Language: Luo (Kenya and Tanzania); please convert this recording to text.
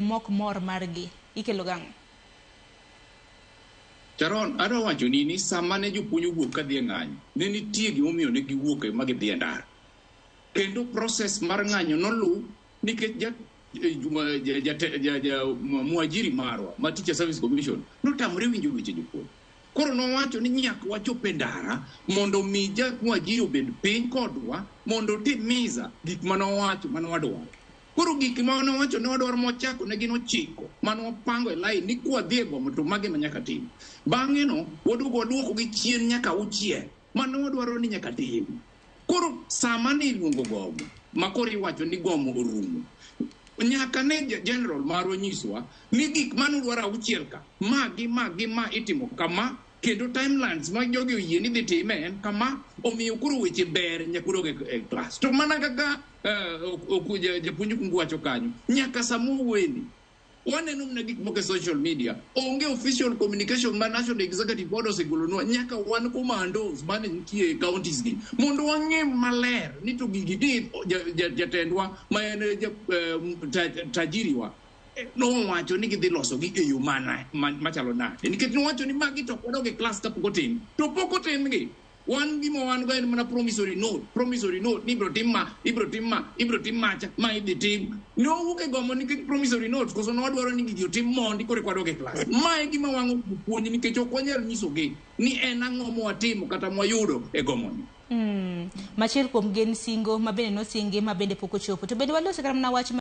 Mok mor margi ikelo gi ang'o? Sharon, adwa wachoni ni sama ne jopuonj owuok kadhi e ng'anyo, ne nitie gimomiyo ne giwuok e ma gidhi e ndara. Kendo process mar ng'anyo noluw nikech ja eh, juma- ja- ja- ja- ja- mwa- mwajiri marwa ma Teacher Service Commission notamore winjo weche jopuonj. Koro nowacho ni nyaka wachop e ndara mondo mi ja mwajiri obed piny kodwa mondo otim misa gik mane owacho mane wadwaro. Koro gik ma nowacho ne wadwaro mochako ne gin ochiko mane wapango e lain ni kwadhi e gomo to mage ma nyaka tim. Bang'e no waduogo waduoko gi chien nyaka auchiel mane wadwaro ni nyaka tim. Koro sama ne iluongo gomo ma koro iwacho ni gomo orumo, nyaka ne general marwa nyiswa ni gik mane udwaro auchiel ka, ma gi ma gi ma itimo kama, kendo timelines ma jogi oyie ni dhi time en kama omiyo koro weche ber nyaka udog e- e klas to mana kaka eh, ok- ok- ja- japuonj kungu wacho kanyo nyaka sama owueni waneno mna gik moko e social media onge official communication ma national executive board osegolonwa nyaka wan commandos mane nitie e counties gi mondo wang'e maler ni to gigi ni ja- ja- jatendwa ma en eh, ja- eh, ta- tajiriwa nowacho ni gidhi losogi e yo mana ma- machalo nade nikech nowacho ni magi to kodog e klas kapok otim to pok otimgi wan gima wan go en mana promissory note promissory note ni ibro tim ma ibro tim ma ibro tim macha ma idhi tim nowuok e gombo nikech promissory note koso nodwaro ni gigi otim mondi koro eka wadog e klas ma e gima wang'o puonj nikech ok wanyal nyisogi ni en ang'o mwatimo kata mwayudo e gomoni Mm. Machiel kuom gen singo ma bende nosingi ma bende pok ochopo. To bende walose kata mana wach ma